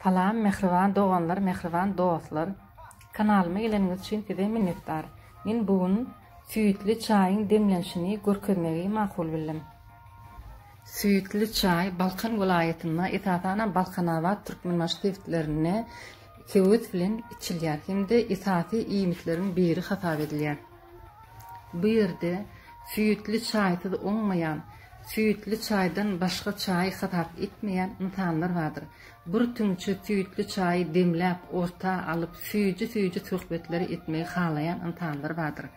Salam mähriban doganlar mähriban dostlar kanalyma geleniňiz üçin size minnetdar men bu gün süýtli çaýyň demlenişini görkezmegi makul bildim. Süýtli çaý Balkan welaýatynda esasanam Balkanabat Türkmenbaşy sebitlerinde höwes bilen içilýär hem-de esasy iýmitleriň biri hasap edilýär. Bu ýerde süýtli çaýsyz oňmaýan, süýtli çaýdan başga çaýy hasap etmeýän ynsanlar bardyr. Bir tüňçe süýtli çaýy demläp, orta alyp, süýji-süýji söhbetleri etmegi halaýan ynsanlar bardyr.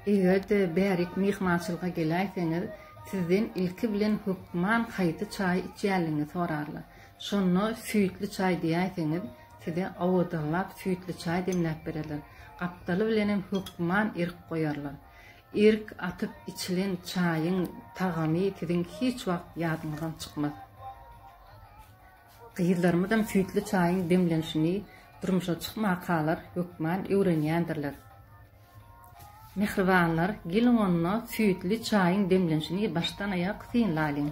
Eger-de bärik myhmançylyga geläýseňiz, sizden ilki bilen hökman haýsy çaýy içýänligiňi sorarlar. Şonda süýtli çaý diýäýseňiz, size owadanlap süýtli çaý demläp bererler. Gapdaly bilenem hökman irk goýarlar. Irk atyp içilen çaýyň tagamy siziň hiç wagt ýadyňyzdan çykmaz. Gyzlarymyzam süýtli çaýyň demlenişini durmuşa çykmakalar hökman öwrenýändirler. Mähribanlar, geliň onda süýtli çaýyň demlenişini başdan-aýak synlalyň.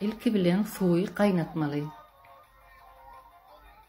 Ilki bilen suwy gaýnatmaly.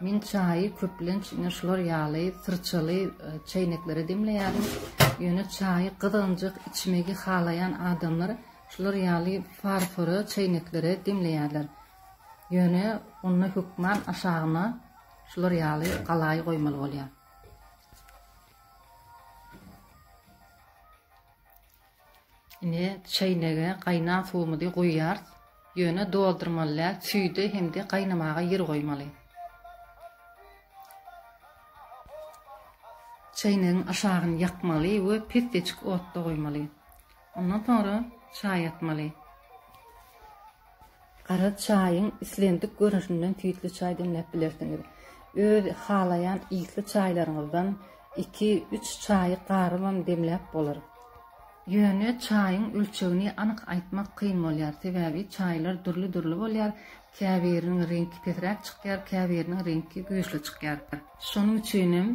Men çaýy köplenç ine şular ýaly syrçaly çäýneklere demleýärin. Ýöne çaýy gyzgynjak içmegi halaýan adamlar şular ýaly farfora çäýneklere demleýärler. Ýöne onda hökman aşagyna şular ýaly galaý goýmaly bolýar. Indi çäýnege gaýnan suwumyzy guýýarys. Ýöne doldurmaly däl, süýde hem-de gaýnamaga ýer goýmaly. Çäýnegiň aşagyny ýakmaly we pes-peçik otda goýmaly. Ondan soňra çaý atmaly. Gara çaýyň islendik görnüşinden süýtli çaý demläp bilersiňiz. Öz halaýan isli çaýlaryňyzdan iki, üç çaýy garybam demläp bolar. Ýöne çaýyň ölçegini anyk aýtmak kyn bolýar, sebäbi çaýlar dürli-dürli bolýar, käbiriniň reňki pesräk çykýar, käbiriniň reňki güýçli çykýar. Şonuň üçinem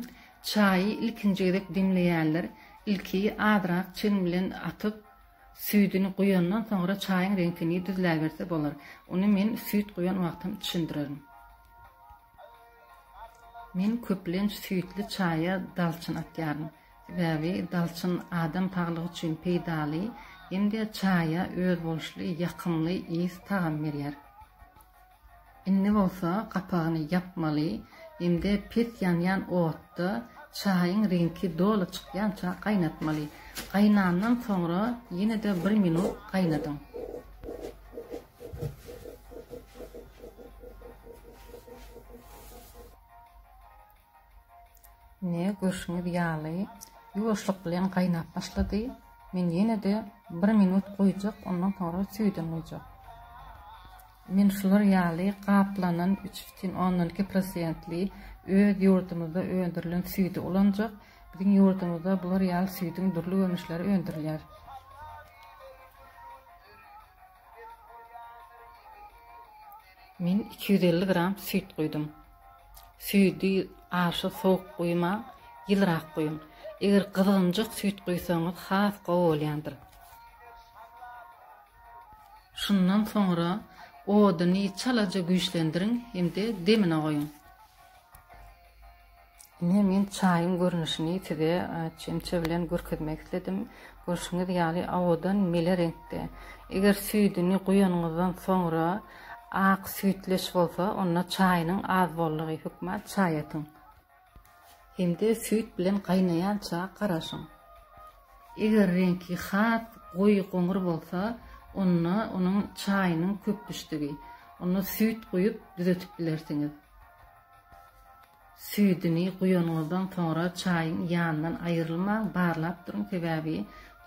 çaýy ilkinji gezek demleýänler ilki azrak çen bilen atyp, Süýdüni guýandan soňra çaýyň reňkini düzläberse bolar. Ony men süýt guýan wagtam düşündirerin. Men köplenç süýtli çaýa dalçyn atýaryn. Sebäbi dalçyn adam saglygy üçin peýdaly hem-de çaýa özboluşly ýakymly ys-tagam berýär. Indi bolsa gapagyny ýapmaly hem-de pes ýanýan otda çaýyň reňki doly çykýança gaýnatmaly. Gaýnandan soňra ýene-de bir minut gaýnadyň. Ine, görşüňiz ýaly, ýuwaşlyk bilen gaýnap başlady. Men ýene-de bir minut goýjak, ondan soňra süýdem guýjak. Men şular ýaly gaplanan üç bütin ondan iki prosentli öz ýurdumyzda öndürilen süýdi ulanjak. Biziň ýurdumyzda bular ýaly süýdüň dürli görnüşleri öndürilýär. Men iki ýüz elli gram süýt guýdum. Süýdi aşa sowuk guýmaň, ýylyrak guýuň. Eger gyzgynjak süýt guýsaňyz has gowy bolýandyr. Şundan soňra oduny çalaja güýçlendiriň hem-de demine goýuň. Ine men çaýyň görnüşini size çemçe bilen görkezmek isledim. Görşüňiz ýaly awadan mele reňkde. Eger süýdüni guýanyňyzdan soňra ak süýtleş bolsa onda çaýynyň az boldugy hökman çaý atyň. hem-de süýt bilen gaýnaýança garaşyň. Eger reňki has goýy goňur bolsa, onda onuň çaýynyň köp düşdügi. Onda süýt guýup düzetip bilersiňiz. Süýdüni guýanyňyzdan soňra çaýyň ýanyndan aýrylmaň, barlap duruň, sebäbi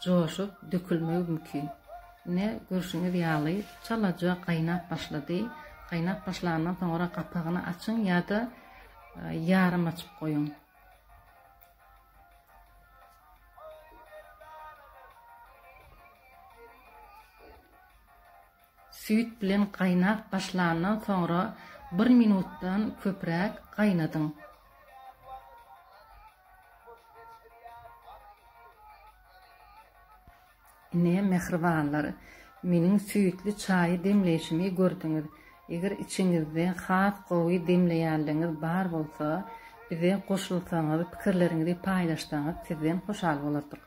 joşup, dökülmegi mümkin. Ine, görşüňiz ýaly, çalaja gaýnap başlady. Gaýnap başlandan soňra gapagyny açyň ýa-da Ýarym açyp goýuň. Süýt bilen gaýnap başlandan soňra 1 minutdan köpräk gaýnadyň. Ine, mähribanlar, meniň süýtli çaýy demleýşimi gördüňiz. Eger içiňizde has gowy demleýänligiňiz bar bolsa, bize goşulsaňyz, pikirleriňizi paýlaşsaňyz sizden hoşal bolardyk.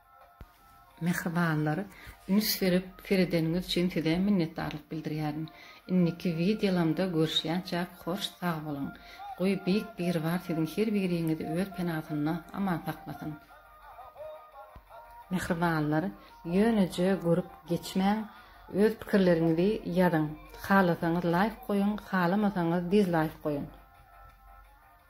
Mähribanlar, üns berip seredeniňiz üçin size minnetdarlyk bildirýärin. Indiki wideolamda görüşýänçäk hoş sag boluň. Goý Beýik Biribar siziň her biriňizi öz penasynda aman saklasyn. Mähribanlar, ýöneje görüp geçmäň, öz pikirleriňizi ýazyň. Halasaňyz laýk goýuň, halamasaňyz dizlaýk goýuň.